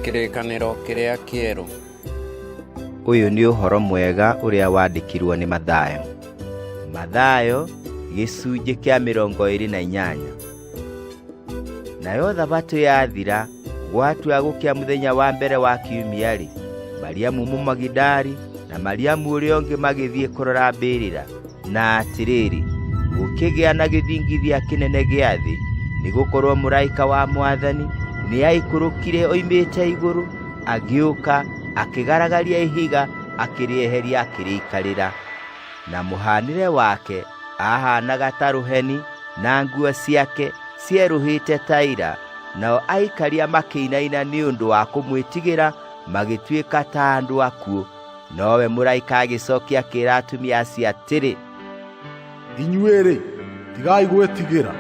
Kĩrĩkanĩro kĩrĩa kĩerũ. Ũyũ nĩ ũhoro mwega ũrĩa wandĩkirwo nĩ Mathayo. Mathayo gĩcunjĩ kĩa mĩrongo ĩrĩ na inyanya. Nayo thabatũ yathira gwatua gũkĩa mũthenya wa mbere wa kiumia-rĩ, Mariamu Mũmagidari na Mariamu ũrĩa ũngĩ magĩthiĩ kũrora mbĩrĩra. Na atĩrĩrĩ, gũkĩgĩa na gĩthingithia kĩnene gĩa thĩ, nĩ gũkorwo mũraika wa mwathani nĩ aikũrũkire oimĩte igũrũ, agĩũka akĩgaragaria ihiga akĩrĩeheria akĩrĩikarĩra. Na mũhaanĩre wake ahaanaga ta rũheni, na nguo ciake cierũhĩte ta ira. Nao aikaria makĩinaina nĩ ũndũ wa kũmwĩtigĩra, magĩtuĩka ta andũ akuũ. nowe mũraika agĩcokia akĩra atumia acio atĩrĩ inyuĩ-rĩ tigai gwĩtigĩra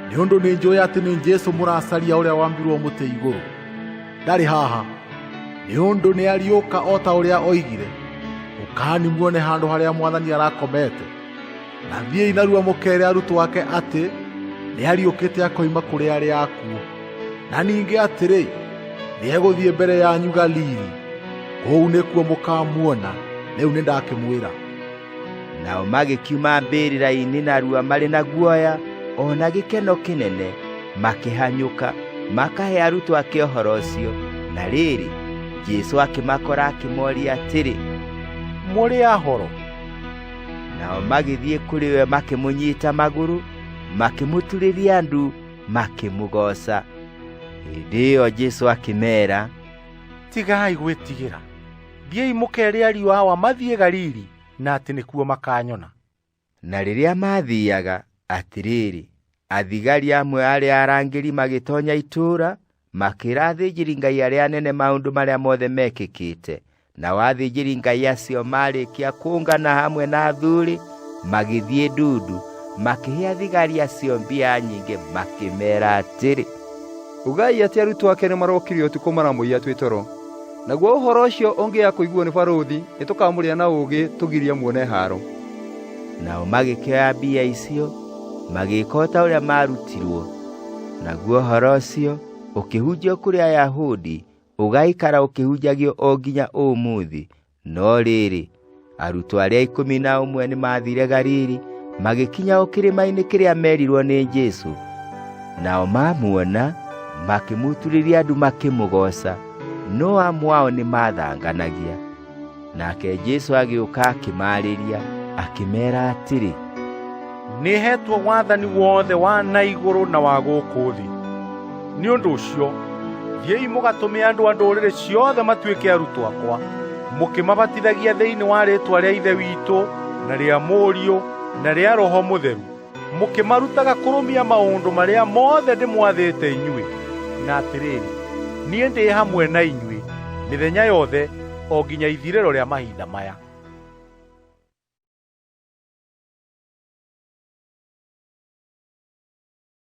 nĩ ũndũ nĩ njũĩ atĩ nĩ jesu mũracaria ũrĩa wambirwo mũtĩ igũrũ ndarĩ haha nĩ ũndũ nĩ ariũka o ta ũrĩa oigire ũkani muone handũ harĩa mwathani arakomete Na thiĩi narua mũkeere arutwo ake atĩ nĩariũkĩte akoima kũrĩ arĩa akuũ, na ningĩ atĩrĩ, nĩegũthiĩ mbere yanyu Galili, kũu nĩkuo mũkamuona. Rĩu nĩndakĩmwĩra. Nao magĩkiuma mbĩrĩra-inĩ narua marĩ na guoya o na gĩkeno kĩnene, makĩhanyũka makahe arutwo ake ũhoro ũcio. Na rĩrĩ, Jesu akĩmakora akĩmoria atĩrĩ, Mũrĩ ahoro? nao magĩthiĩ kũrĩ we makĩmũnyita magũrũ makĩmũturĩria ndu makĩmũgooca hĩndĩ ĩyo jesu akĩmeera tigai gwĩtigĩra thiĩi mũkere ariũ awa mathiĩ galili na atĩ nĩkuo makanyona na rĩrĩa maathiaga atĩrĩrĩ athigari amwe arĩa arangĩri magĩtonya itũũra makĩra athĩnjĩri ngai arĩa anene maũndũ marĩa mothe mekĩkĩte nao athĩnjĩri ngai acio maarĩkia kũngana hamwe na athuri magĩthiĩ ndundu makĩhe athigari acio mbia nyingĩ makĩmera atĩrĩ ugai atĩ arutwo ake nĩ marokire ũtukũ maramũiya twĩ toro naguo ũhoro ũcio ũngĩya kũiguo nĩ barũthi nĩ tũkamũrĩa na ũũgĩ tũgirie muone haaro nao magĩkĩoya mbia icio magĩka o ta ũrĩa maarutirwo naguo ũhoro ũcio ũkĩhunjio kũrĩ ayahudi ũgaikara ũkĩhunjagio o nginya ũmũthĩ no rĩrĩ arutwo arĩa ikũmi na ũmwe nĩ maathire galili magĩkinya o kĩrĩma-inĩ kĩrĩa merirwo nĩ jesu nao mamuona makĩmuturĩria andu makĩmũgooca no amwe ao nĩ maathanganagia nake Jesu agĩũka akĩmaarĩria akĩmeera atĩrĩ nĩhetwo wathani wothe wa na igũrũ na wa gũkũ thĩ nĩ ũndũ ũcio thiĩi mũgatũme andũ a ndũrĩrĩ ciothe matuĩke arutwo akwa mũkĩmabatithagia thĩinĩ wa rĩĩtwa rĩa ithe witũ na rĩa mũriũ na rĩa roho mũtheru mũkĩmarutaga kũrũmia maũndũ marĩa mothe ndĩmwathĩte inyuĩ na atĩrĩrĩ niĩ ndĩ hamwe na inyuĩ mĩthenya yothe o nginya ithirĩro rĩa mahinda maya